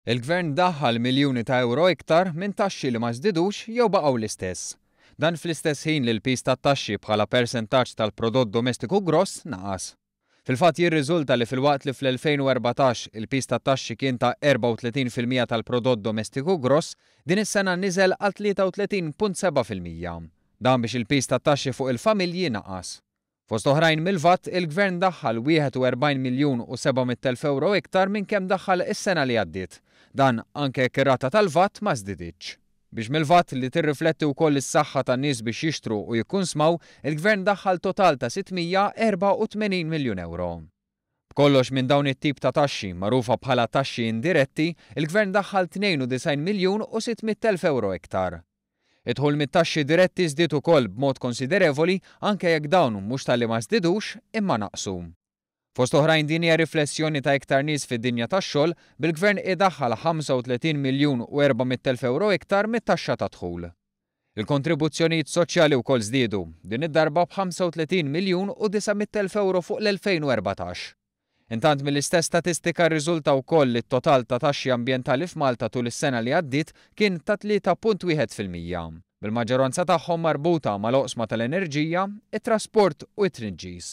Il-Gvern daħħal miljuni ta' ewro iktar minn taxxi li ma żdidux jew baqgħu l-istess. Dan fl-istess ħin li l-piż tat-taxxi bħala persentaġġ tal-Prodott Domestiku Gross naqas. Fil-fatt jirriżulta li filwaqt li fl-2014 il-piż tat-taxxi kien ta' 34 fil-mija tal-Prodott Domestiku Gross, din is-sena niżel għal 33.7 fil-mija. Dan biex il-piż tat-taxxi fuq il-familji naqas. Fost oħrajn mill-VAT, il-Gvern daħħal 41 miljun u 700 elf ewro iktar minn kemm daħħal is-sena li għaddiet. Dan anke jekk ir-rata tal-VAT ma żdiditx. Biex mill-VAT, li tirrifletti wkoll is-saħħa tan-nies biex jixtru u jikkunsmaw, il-Gvern daħħal total ta' 684 miljun ewro. B'kollox minn dawn it-tip ta' taxxi, magħrufa bħala taxxi indiretti, il-Gvern daħħal 92 miljun u 600 elf ewro iktar. Id-dħul mit-taxxi diretti żdied ukoll b'mod konsiderevoli anke jekk dawn mhux talli ma żdidux imma naqsu. Fost oħrajn din hija riflessjoni ta' iktar nies fid-dinja tax-xogħol, bil-Gvern qiegħed daħħal 35 miljun u 400 elf ewro iktar mit-taxxa tad-dħul. Il-kontribuzzjonijiet soċjali wkoll żdiedu, din id-darba b' 35 miljun u 900 elf ewro fuq l-2014. Intant mill-istess statistika rriżulta wkoll li t-total ta' taxxi ambjentali f'Malta tul is-sena li għaddiet kien ta' 3.1 fil-mija, bil-maġġoranza tagħhom marbuta mal-oqsma tal-enerġija, it-trasport u t-tniġġis.